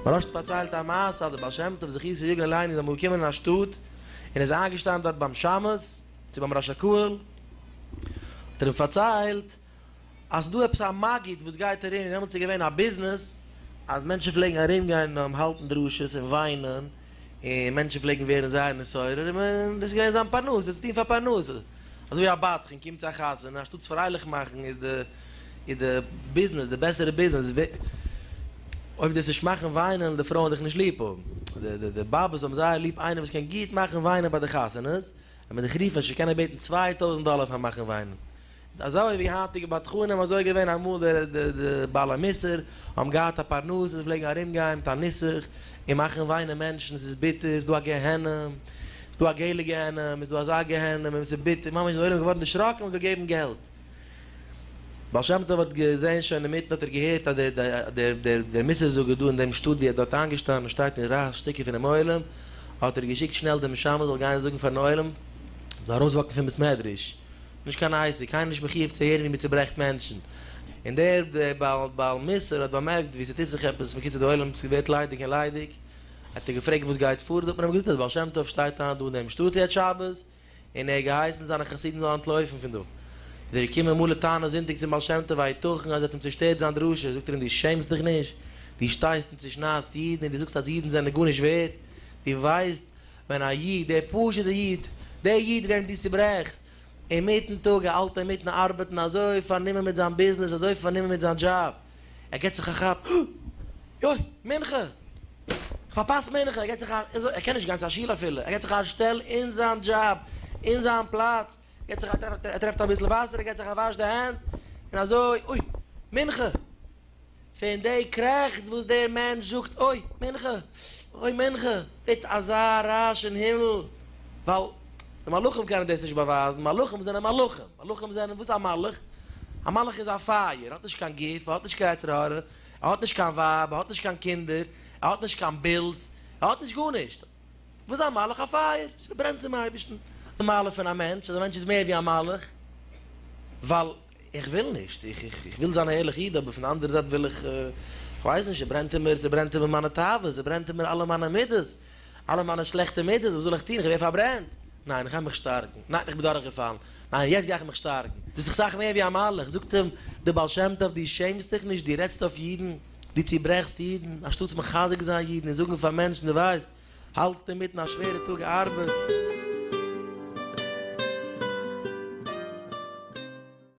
מהרש ת פארציילט א מעשה אז דער בעל שם טוב זכותו יגן עלינו איז אמאל געקומען אין א שטאט און איז איינגעשטאנען דארט ביים שמש צו ביים ראש הקהל האט ער אים פארציילט אז ס'דא עפעס א מגיד וואס גייט ארום, און דעמאלטס איז געווען א ביזנעס אז מענטשן פלעגן ארומגיין האלטן דרשות און וויינען, און מענטשן פלעגן ווערן זייער נתעורר, און דאס איז געווען זיין פרנסה, צו טון פאר פרנסה. אזויווי א בדחן קומט צו א חתונה, אנשטאט זיך פרייליך מאכן איז די איז די ביזנעס, די בעסערע ביזנעס, אויב דאס נישט מאכן וויינען די פרויען דיך נישט ליב האבן. די די באבעס האבן זייער ליב איינעם וואס קען גוט מאכן וויינען ביי די חתונות, ווען מען דיך רופט וועסטו קענען בעטן צוויי טויזנט דאלער פאר מאכן וויינען. אזוי ווי היינטיגע בדחנים אזוי געווען אמאל די די בעל המוסר האבן געהאט א פרנסה זיי פלעגן ארום גיין מיט א נוסח און מאכן וויינען מענטשן עס איז ביטער עס איז דא א גיהנום עס איז דא א געלע גיהנום עס איז דא אזא גיהנום און עס איז ביטער ממש די עולם איז געווארן דערשראקן און געגעבן געלט בעל שם טוב האט געזעהן שוין אינמיטן האט ער געהערט אז דער דער דער דער מוסר זאגער דא אין דעם שטאט ווי ער האט דארט איינגעשטאנען שטייט און רייסט שטיקער פונעם עולם האט ער געשיקט שנעל דעם משמש זאל גיין זאגן פארן עולם זאל ארויסוואקן פון בית מדרש נישט קיין עצה, קיינער איז נישט מחיוב צו הערן ווי מען צעברעכט מענטשן. און דער בעל מוסר האט באמערקט ווי ס'טוט זיך עפעס בקיצור די עולם ווערט ליידיג און ליידיג, האט ער געפרעגט וואס גייט פאר, האט מען אים געזאגט אז דער בעל שם טוב שטייט היינט דא אין דעם שטאט יעצט שבת, און ער האט געהייסן זיינע חסידים זאלן אנטלויפן פון דא. איז ער געקומען מלא טענות זונטאג צום בעל שם טוב הייתכן אז ער האט אים צושטערט זיין דרשה, זאגט ער אים דו שעמסט דיך נישט? דו שטייסט און צושניידסט אידן און דו זאגסט אז אידן זענען גארנישט ווערד, דו ווייסט ווען א איד, דער פשוט'ער איד, דער איד וועם דו צוברעכסט, אינמיטן טאג, ער האלט אינמיטן ארבעטן, אזוי פארנומען מיט זיין ביזנעס, אזוי פארנומען מיט זיין דזשאב, ער געבט זיך א כאפ, אה! יוי! מנחה! איך פארפאס מנחה! ער געבט זיך א, ער קען נישט גיין צו א שול אפילו, ער געבט זיך א שטעל אין זיין דזשאב, אין זיין פלאץ, ער געבט זיך א טרעף, ער טרעפט אביסל וואסער, ער געבט זיך א וואש די הענט, און אזוי, אוי! מנחה! פון די קרעכץ וואס דער מענטש זאגט אוי מנחה אוי מנחה ווערט אזא רעש אין הימל ווייל די מלאכים קענען דאס נישט באווייזן מלאכים זענען מלאכים מלאכים זענען וואס א מלאך א מלאך איז א פייער האט נישט קיין גוף האט נישט קיין יצר הרע ער האט נישט קיין ווייב ער האט נישט קיין קינדער ער האט נישט קיין בילס ער האט נישט גארנישט וואס איז א מלאך א פייער ברענט צום אייבערשטן די מעלה פון א מענטש אז א מענטש איז מער ווי א מלאך ווייל איך וויל נישט, איך וויל זיין א ערליכע איד, אבער פון די אנדערע זייט וויל איך, איך ווייס נישט, ס'ברענט אין מיר, ס'ברענט אין מיר מיינע תאוות, ס'ברענט אין מיר אלע מיינע מידות, אלע מיינע שלעכטע מידות, וואס זאל איך טון, איך ווער פארברענט, ניין, איך גיי מיך שטארקן, ניין, איך בין דורכגעפאלן, ניין, יעצט גיי איך מיך שטארקן, דאס איך סאך מער ווי א מלאך, זאגט אים דער בעל שם טוב, דו שעמסט דיך נישט, דו רעדסט אויף אידן, דו צוברעכסט אידן, אנשטאטס מחזק זיין אידן און זאגן פאר מענטשן, דו ווייסט, האלטסט אינמיטן א שווערע טאג ארבעט.